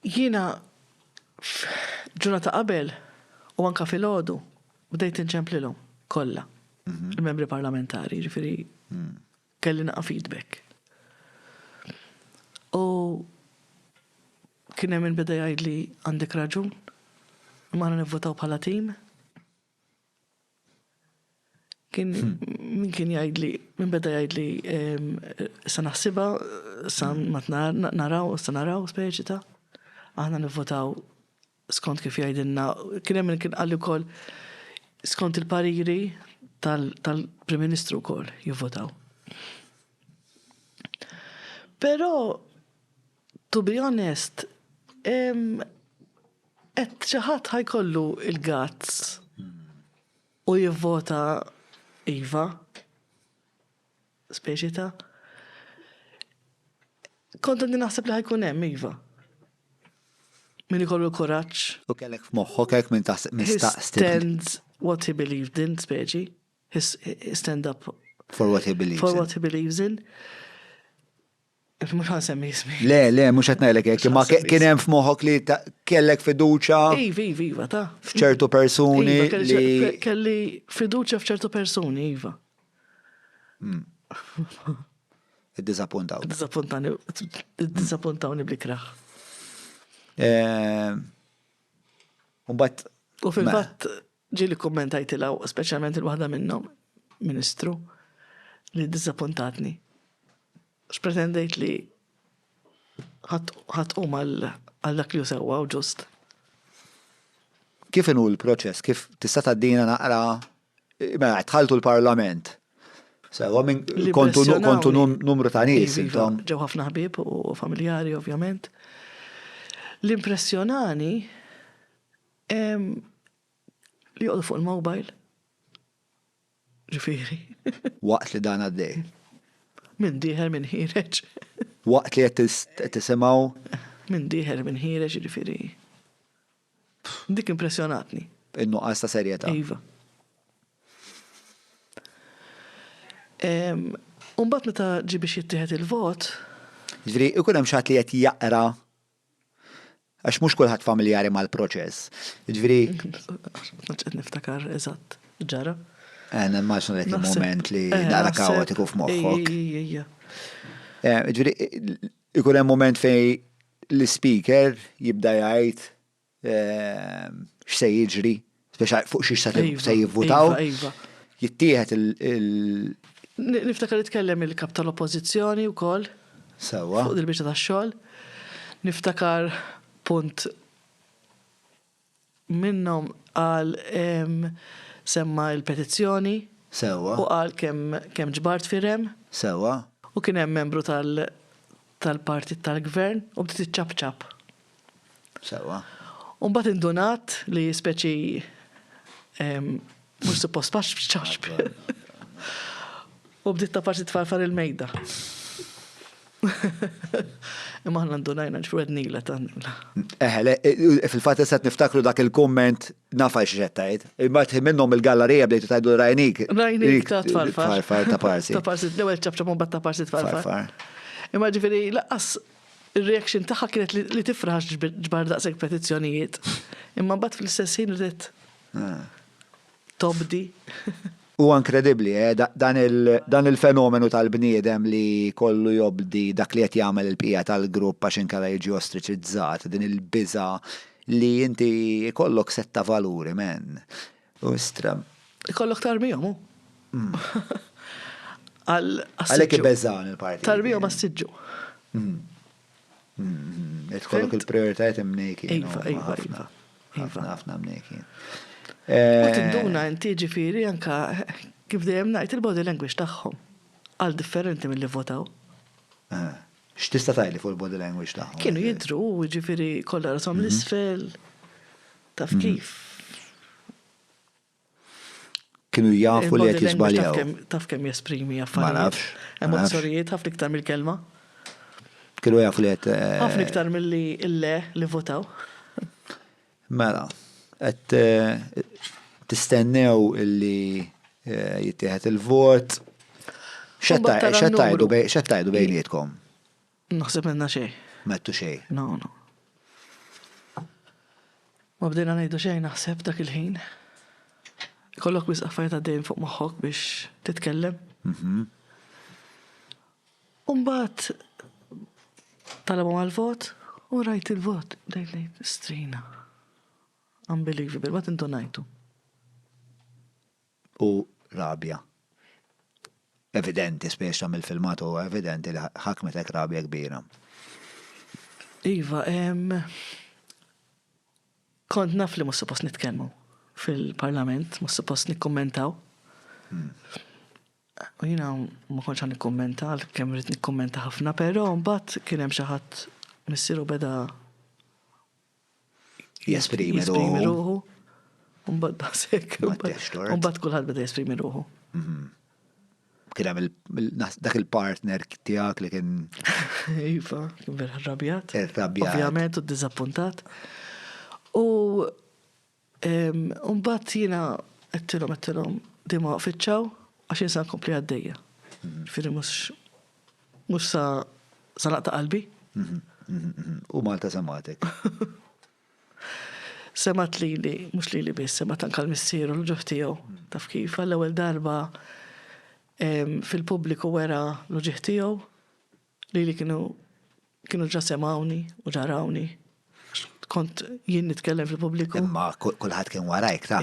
Jiena f'ġurnata qabel u anke filgħodu bdejt inċemplilhom kollha il-Membri Parlamentari, jiġifieri kelli naqra feedback. U kien hemm min beda jgħidli għandek raġun, imma aħna nivvutaw bħala tim. Kien min kien jgħidli, min beda jgħidli sa naħsibha sa ma naraw, sa naraw speċi ta' aħna nivvotaw skont kif jgħidilna. Kien hemm kien qalli wkoll skont il-pariri tal-Prim Ministru wkoll jivvotaw. Però To be honest, qed xi ħadd ħa jkollu l-guts u jivvota iva. Speċi ta' kont qed naħseb li ħajkun hemm iva. Min ikollu kuraġġ. U kellek f'moħħok hekk minn taħseb mistaqsi. Stand what he believed in, speċi. Stand up. For what he believes in. For what he believes in. Mhux ħansemmi jismi. Le, le, mhux qed ngħidlek hekk, imma kien hemm f'moħħok li kellek fiduċja. Iva, iva, iva, ta. F'ċertu persuni. Iva, kelli fiduċja f'ċertu persuni, iva. Hmm. Id-dizappuntaw. Id-dizappuntawni bl-ikraħ. Eh, Umbat. U fil-fatt, Ġieli kkummentajtilha u speċjalment lil waħda minnhom, Ministru, li ddiżappuntatni. Għax pretendejt li ħa tqum għal dak li hu sewwa u ġust. Kif inhu l-proċess? Kif tista' tgħaddina naqra mela dħaltu l-Parlament? Sewa minn kontu numru ta' nies iva, intom. Ġew ħafna ħbieb u familjari ovvjament. L-impressjonani Li joqgħodu fuq il-mobile. Ġifieri. Waqt li dan għaddej. Min dieħel min ħireġ. Waqt li qed tisimgħu. Min dieħel min ħireġ ġifieri. Dik impressjonatni. In-nuqqas ta' serjetà. Iva. Umbagħad meta ġie biex jittieħed il-vot. Ġifieri ikun hemm xi ħadd li qed jaqra Għax mhux kulħadd familjari mal-proċess. Ġifieri. Ġed niftakar eżatt, ġara. Eh, nemmaġna dak il-moment li eh, dara kaotiku f'moħħok. Eh, ġifieri, ikun hemm moment fej l-speaker jibda jgħid x'se jiġri, speċa fuq xiex se iva, jivvutaw. Iva, iva. Jittieħed il- Niftakar li tkellem il-kap tal-oppożizzjoni wkoll. Sewwa. Fuq il-biċċa tax-xogħol. Niftakar punt minnhom għal semma il-petizzjoni. Sewwa. U qal kemm ġbart firem. Sewwa. U kien hemm membru tal- tal-partit tal-gvern u bdiet iċċapċap. Sewwa. U mbagħad indunat li speċi mhux suppost fax f'ċaxb. U bdiet ta' parti tfarfar il-mejda. Imma aħna ndunajna ġifwednila tannila. Eħe, fil-fatt issa niftakru dak il-kumment Naf għax xed tajt. Il-mart minnhom il-gallerija bdejtu tajdu rajnik. Rajnik ta' tfarfar. Tfarfar ta' parsi. Ta' parsi, l-ewwel ċabċab un ta' parsi tfarfar. Imma ġifieri laqqas ir-reaction tagħha kienet li tifraħ ġbar daqshekk petizzjonijiet. Imma mbagħad fl-istess ħin ridet ah. tobdi. Huwa inkredibbli, eh, dan il-fenomenu tal-bniedem li jkollu jobdi dak li qed jagħmel il-bqija tal-grupp għax inkella jiġi ostriċizzat, din il-biża' li inti jkollok sett ta' valuri, man. U istra. Ikollok tarbihom, hu. Għalhekk ibeżżagħni l-partit. Tarbihom għas-siġġu. Mm-hmm. Tkollok il-prioritajiet imnejki. Iva, iva, iva. Ħafna, iva. ħafna mnejki. U tinduna eh, inti ġifiri anka kif dejjem ngħid il-body language tagħhom għal differenti mill-li votaw. Eh, x'tista' tajli fuq il-body language tagħhom? Kienu eh, jidru, ġifiri kollha rasom mhm. l-isfel. Taf mhm. kif? Kienu jafu li qed jiżbaljaw. Taf kemm jesprimi affarijiet. Ma nafx. Emozzjonijiet ħafna iktar mill-kelma. Kienu jafu li qed. Ħafna iktar milli l-le li votaw. Mela, qed tistennew illi jittieħed il-vot. X'qed tgħidu bejnietkom? Naħseb m'għedna xejn. M'għedtu xejn. No, no. Ma bdejna ngħidu xejn naħseb dak il-ħin. Ikollok wisq affarijiet għaddejjin fuq moħħok biex titkellem. Mhm. U mbagħad talabhom għall-vot u rajt il-vot bdejt ngħid strina. Unbelievable, ma tindunajtu. u rabja evidenti, specie mill-filmat huwa evidenti li ħakmetek rabja kbira. Iva, kont naf li mhux suppost nitkellmu fil-Parlament, mhux suppost nikkummentaw. Hmm. U jiena ma kontx għan nikkummenta, kemm rrid nikkummenta ħafna, però mbagħad kien hemm xi ħadd missieru beda Jesprimi ruħu. Umbat basek. Umbat kullħat beda jesprimi ruħu. Mhm. Kien hemm dak il-partner tiegħek li kien. Iva, kien vera rabjat. Rabjat. Ovvjament u ddiżappuntat. U Mbagħad jiena għedtilhom għedtilhom di ma waqfitxaw għax jinsa nkompli għaddejja. Firri mhux mhux sa sa naqta' qalbi. U Malta sematek. Semat li li, mhux li li biss, semat anka l-missier u l-ġuħ tiegħu. Taf kif għall-ewwel darba fil-pubbliku wera l-ġuħ tiegħu. Lili kienu kienu ġa semgħuni u ġa rawni. Kont jien nitkellem fil-pubbliku. Imma kulħadd kien warajk ta'.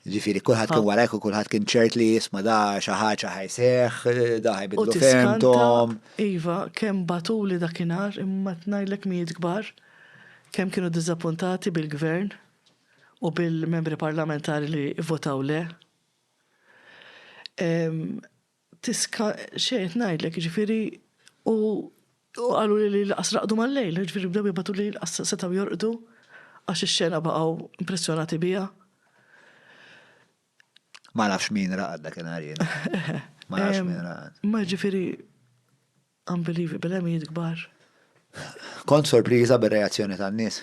Ġifieri kulħadd kien warajk u kulħadd kien ċert li jisma' da xi ħaġa ħajseħ, da ħajbidlu fehmthom. Iva, kemm bagħtuli dakinhar imma ngħidlek mijiet kbar kemm kienu diżappuntati bil-Gvern u bil-Membri Parlamentari li vvotaw le. tiska xejn qed ngħidlek, jiġifieri u qaluli li lanqas raqdu mal-lejl, jiġifieri bdew jibgħatu li lanqas setgħu jorqdu għax ix-xena baqgħu impressjonati biha. Ma nafx min raqad dakinhar jien. Ma nafx min raqad. Ma jiġifieri Unbelievable, bil-għemijiet kbar. Kont sorpriża bir-reazzjoni tan-nies?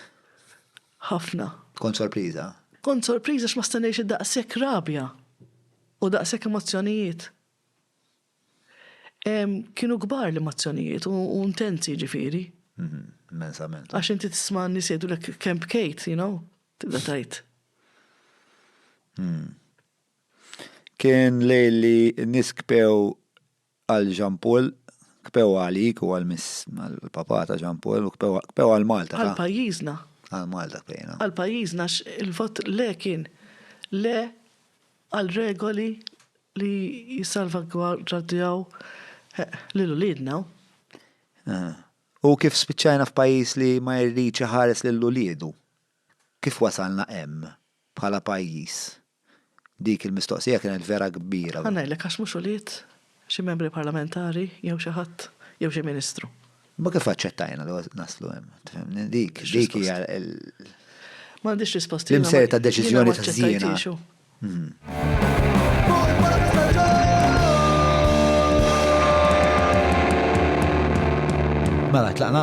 Ħafna. Kont sorpriża? Kont sorpriża x'ma stennejtx daqshekk rabja u daqshekk emozzjonijiet. Kienu kbar l-emozzjonijiet u intensi ġifieri. Mhm, immensament. Għax inti tisma' n-nies jgħidulek kemm bkejt, you know, tibda tgħid. Hmm. Kien lejli n-nies kbew Għal Jean Paul, kpew għalik u għal Miss, għall-Papa ta' Jean Paul u kpew, kpew għal Malta ta'. Għal pajjiżna. Għal Malta kpejna. Għal pajjiżna għax il-vot le kien le għal regoli li jissalvagwardjaw lil uliedna u. U kif spiċċajna f'pajjiż li ma jridx iħares lil uliedu. Kif wasalna hemm, bħala pajjiż? Dik il-mistoqsija kienet vera kbira. Ħa ngħidlek għax mhux ulied xi membri parlamentari jew xi ħadd jew xi ministru. Imma kif aċċettajna li naslu hemm? Tifhimni? Dik hija l. M'għandix risposta. L-imser ta' deċiżjoni ta' żiena. Mela, tlaqna?